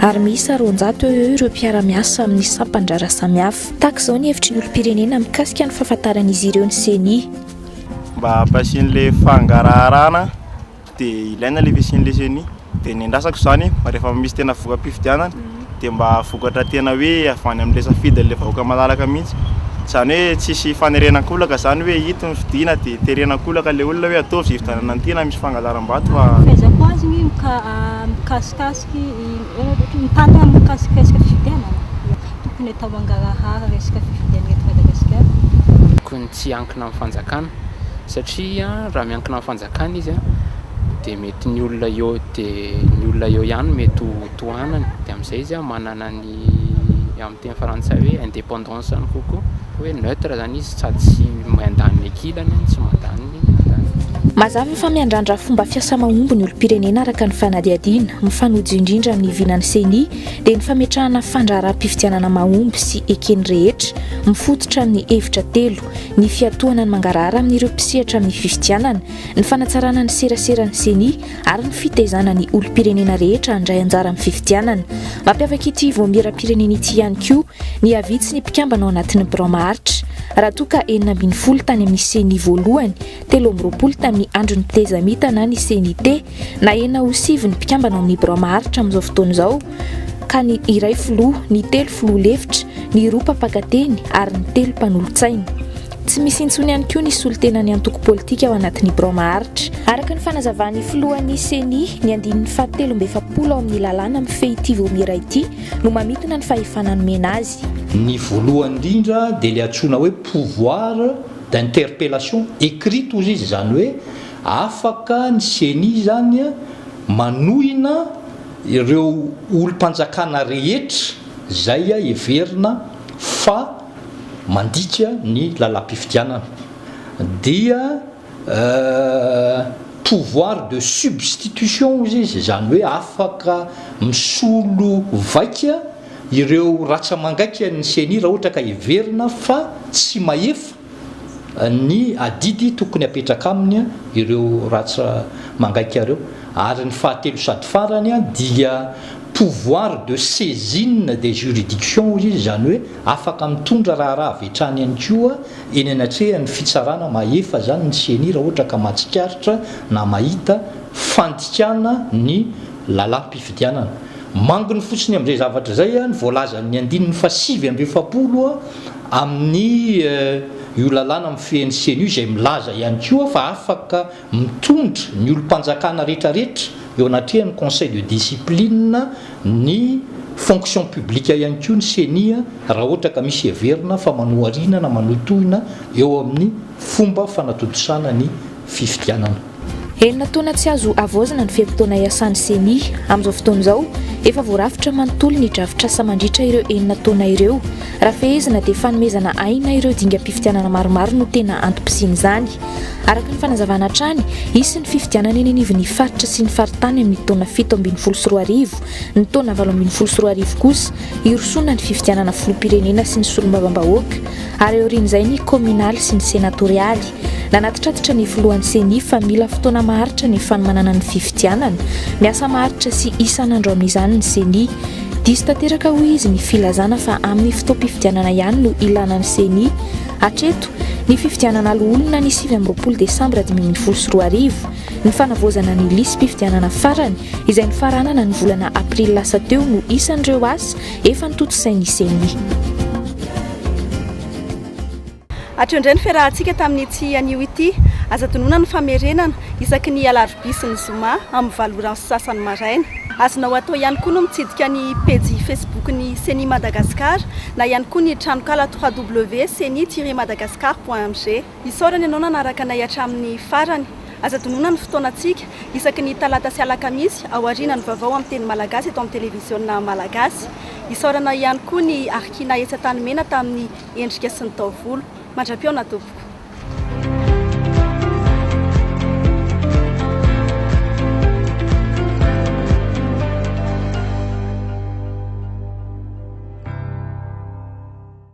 ary miisa roanjato eo eo ireo mpiara-miasa amin'ny sampan-draharaha samihafa. Tahaka izao ny hevitry ny olom-pirenena mikasika ny fahafantaran'izy ireo ny ceni. Mba hampihasian'ilay fangaraharahana dia ilaina ilay fisian'ilay ceni. Dia ny andrasako izany mba rehefa misy tena voka-pifidianana dia mba vokatra tena hoe avy any amin'ilay safidin'ilay vahoaka malalaka mihitsy. Izany hoe tsy hisy fanerena an-kolaka izany hoe ito ny fidiana dia terena an-kolaka ilay olona hoe ataovy izay fifidianana tiana misy fangalaram-bato fa. Fahaizako azy ny mika-mikasika Tokony tsy hiankina amin'ny fanjakana satria raha miankina amin'ny fanjakana izy dia mety ny olona eo dia ny olona eo ihany no mety ho tohanany dia amin'izay izy manana ny amin'ny teny frantsay hoe indépendance any kokoa hoe neutre zany izy sady tsy mandany ny ankilany no tsy mandany ny andaniny. Mazava fa miandrandra fomba fiasa mahomby ny olom-pirenena araka ny fanadihadiana. Mifanojo indrindra amin'ny vinan'ny Ceni dia ny fametrahana fandraharaham-pifidianana mahomby sy eken'ny rehetra, mifototra amin'ny hevitra telo, ny fiatohana ny mangarahara amin'ireo mpisehatra amin'ny fifidianana, ny fanatsarana ny seraseran'ny Ceni, ary ny fitaizana ny olom-pirenena rehetra handray anjara amin'ny fifidianana. Mampiavaka ity voamiera-pirenena ity ihany koa ny havitsy ny mpikambana ao anatin'ny birao maharitra. Raha toa ka enina ambin'ny folo tany amin'ny CENI voalohany, telo amby roapolo tamin'ny andron'ny tetezamita na ny CNIT, na enina ho sivy ny mpikambana ao amin'ny birao maharitra amin'izao fotoana izao, ka ny iray filoha, ny telo filoha lefitra, ny roa mpampakateny ary ny telo mpanolotsaina. Tsy misy intsony ihany koa ny solontenan'ny antoko politika ao anatin'ny birao maharitra. Araka ny fanazavan'ny filohan'ny ceni, ny andininy fahatelo amby efapolo ao amin'ny lalàna mifehy ity Vaomiera ity no mamintina ny fahefana nomena azy. Ny voalohany indrindra dia ilay antsoina hoe pouvoir d'interpellation écrite hozy izy, izany hoe afaka ny ceni izany manohina ireo olom-panjakana rehetra izay heverina fa mandika ny lalam-pifidianana dia pouvoir de substitution hozy izy, izany hoe afaka misolo vaika ireo ratsa-mangaikan'ny ceni raha ohatra ka heverina fa tsy mahefa ny adidy tokony hapetraka aminy ireo ratsy mangaika ireo ary ny fahatelo sady farany dia pouvoir de saisine des juridictions hoy izy, izany hoe afaka mitondra raharaha avy hatrany ihany koa eny anatrehan'ny fitsarana mahefa izany ny ceni raha ohatra ka mahatsikaritra na mahita fandikana ny lalam-pifidianana. Manginy fotsiny amin'izay zavatra izay ny voalazan'ny andininy fahasivy amby efapolo Amin'ny io lalàna mifehy ny ceni io izay milaza ihany koa fa afaka mitondra ny olom-panjakana rehetrarehetra eo anatrehan'ny conseil de discipline ny fonction publique ihany koa ny ceni raha ohatra ka misy heverina fa manoharina na manohitohina eo amin'ny fomba fanatontosana ny fifidianana. Enina taona tsy azo havaozina ny fe-potoana iasan'ny Ceni. Amin'izao fotoana izao, efa voarafitra manontolo ny drafitr'asa mandritra ireo enina taona ireo. Raha fehezina dia fanomezana aina ireo dingam-pifidianana maromaro no tena antom-pisian'izany. Araka ny fanazavana hatrany, hisy ny fifidianana eny anivon'ny faritra sy ny faritany amin'ny taona fito ambin'ny folo sy roa arivo. Ny taona valo ambin'ny folo sy roa arivo kosa, hirosoana ny fifidianana filoham-pirenena sy ny solombavambahoaka. ary aorian'izay ny kominaly sy ny senatorialy. Nanatitrantitra ny filohan'ny ceni fa mila fotoana maharitra ny fanomanana ny fifidianana. Miasa maharitra sy isan'andro amin'izany ny ceni. Diso tanteraka hoy izy ny filazana fa amin'ny fotoam-pifidianana ihany no ilana ny ceni. Hatreto, ny fifidianana loholona ny sivy amby roapolo desambra dimy ambin'ny folo sy roa arivo, ny fanavaozana ny lisi-pifidianana farany izay nofaranana ny volana aprily lasa teo no isan'ireo asa Efa notontosain'ny ceni. Hatreo indray ny fiarahantsika tamin'ity anio ity. Aza adinoina ny famerenana, isaky ny alarobia sy ny zoma, amin'ny valo ora sy sasany maraina. Azonao atao ihany koa ny mitsidika ny pejy Facebook-n'ny ceni Madagascar na ihany koa ny tranonkala www.ceni-madagascar.mg. Isaorana ianao nanaraka anay hatramin'ny farany. Aza adinoina ny fotoanantsika, isaky ny talata sy alakamisy, aorianan'ny vaovao amin'ny teny malagasy eto amin'ny televiziona malagasy. Isaorana ihany koa ny Arkina etsy Antanimena tamin'ny endrika sy ny taovolo. Mandra-pihaona tompoko.